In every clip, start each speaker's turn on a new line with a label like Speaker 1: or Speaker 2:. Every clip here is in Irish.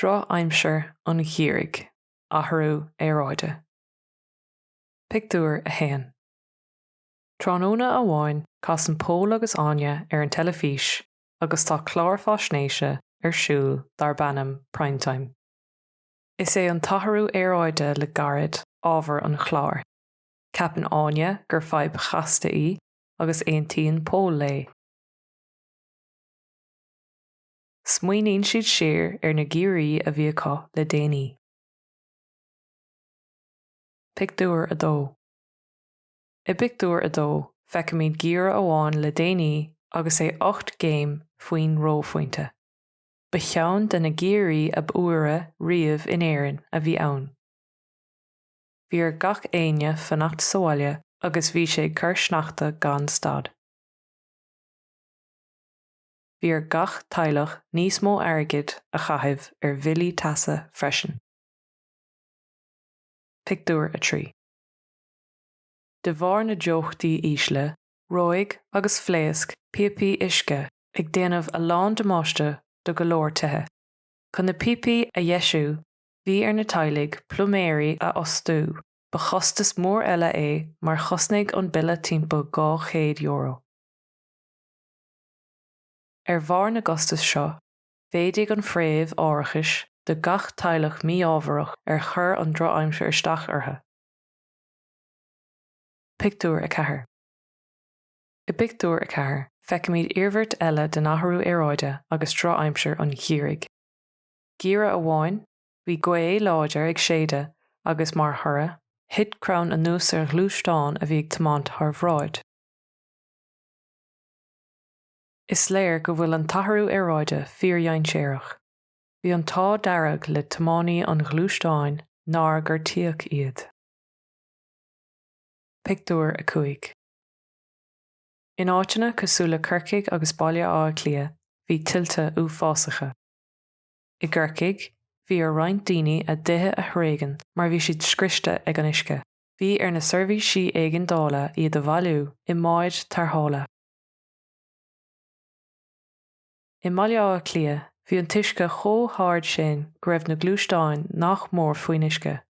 Speaker 1: Drochaimsir an gheimhridh, athrú aeráide. Pictiúr 1 Tráthnóna amháin casann Pól agus Áine ar an teilifís agus tá clár faisnéise ar siúl darb ainm Primetime. Is é an t-athrú aeráide le gairid ábhar an chláir. Ceapann Áine gur fadhb chasta í agus aontaíonn Pól léi. Smaoiníonn siad siar ar na geimhrí a bhí acu le déanaí. Pictiúr 2 I bpictiúr a dó, feicimid geimhreadh amháin le déanaí agus é ocht gcéim faoin reophointe. Ba cheann de na geimhrí ab fhuaire riamh in Éirinn a bhí ann. Bhí ar gach éinne fanacht sa bhaile agus bhí sé ag cur sneachta gan stad. Bhí ar gach teaghlach níos mó airgid a chaitheamh ar bhillí teasa freisin. Pictiúr 3 De bharr na dteochtaí ísle, reoigh agus phléasc píopaí uisce ag déanamh a lán damáiste do go leor tithe. Chun na píopaí a dheisiú, bhí ar na teaghlaigh pluiméirí a fhostú, ba chostas mór eile é mar chosnaigh an bille timpeall €200. Ar bharr na gcostas seo, mhéadaigh an phréimh árachais do gach teaghlach mí-ámharach ar chuir an drochaimsir isteach orthu. Pictiúr 4 I bpictiúr a ceathair, feicimid iarmhairt eile den athrú aeráide agus drochaimsir an gheimhridh. Geimhreadh amháin, bhí gaoth láidir ag séideadh agus mar thoradh, thit crann anuas ar ghluaisteán a bhí ag tiomáint thar bhráid. Is léir go bhfuil an t-athrú aeráide fíordhainséarach. Bhí an t-ádh dearg le tiománaí an ghluaisteáin nár gortaíodh iad. Pictiúr 5 In áiteanna cosúil le Corcaigh agus Baile Átha Cliath, bhí tuilte uafásacha. I gCorcaigh, bhí ar roinnt daoine a dtithe a thréigean mar bhí siad scriosta ag an uisce. Bhí ar na seirbhísí éigeandála iad a bhailiú i mbáid tarrthála. I mBaile Átha Cliath, bhí an t-uisce chomh hard sin go raibh na gluaisteáin nach mór faoin uisce.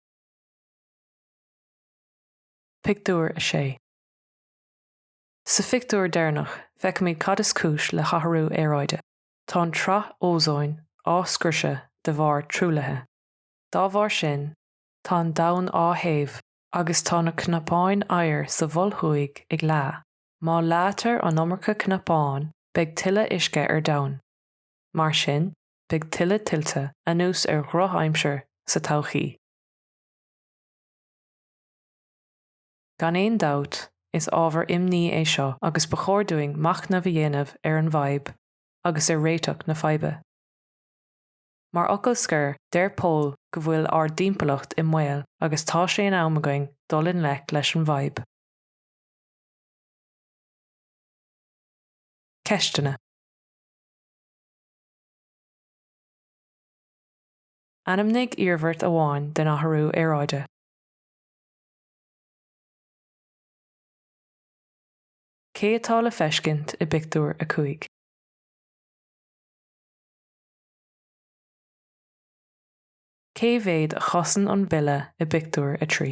Speaker 1: Pictiúr 6 Sa phictiúr deireanach, feicimid cad is cúis le hathrú aeráide. Tá an tsraith ózóin á scriosadh de bharr truaillithe. Dá bharr sin, tá an domhan á théamh agus tá na cnapáin oighir sa Mhol Thuaidh ag leá. Má leáitear an iomarca cnapán, beidh tuilleadh uisce ar domhan. Mar sin, beidh tuilleadh tuilte, anuas ar dhrochaimsir, sa todhchaí. Gan aon dabht, is ábhar imní é seo agus ba chóir dúinn machnamh a dhéanamh ar an bhfadhb agus ar réiteach na faidhbe. Mar fhocal scoir, deir Pól go bhfuil ár dtimpeallacht i mbaol agus tá sé in am againn dul i ngleic leis an bhfadhb. Ceisteanna. Ainmnigh iarmhairt amháin den athrú aeráide. Cé atá le feiscint i bpictiúr a cúig? Cé mhéad a chosnaíonn an bille i bpictiúr a trí?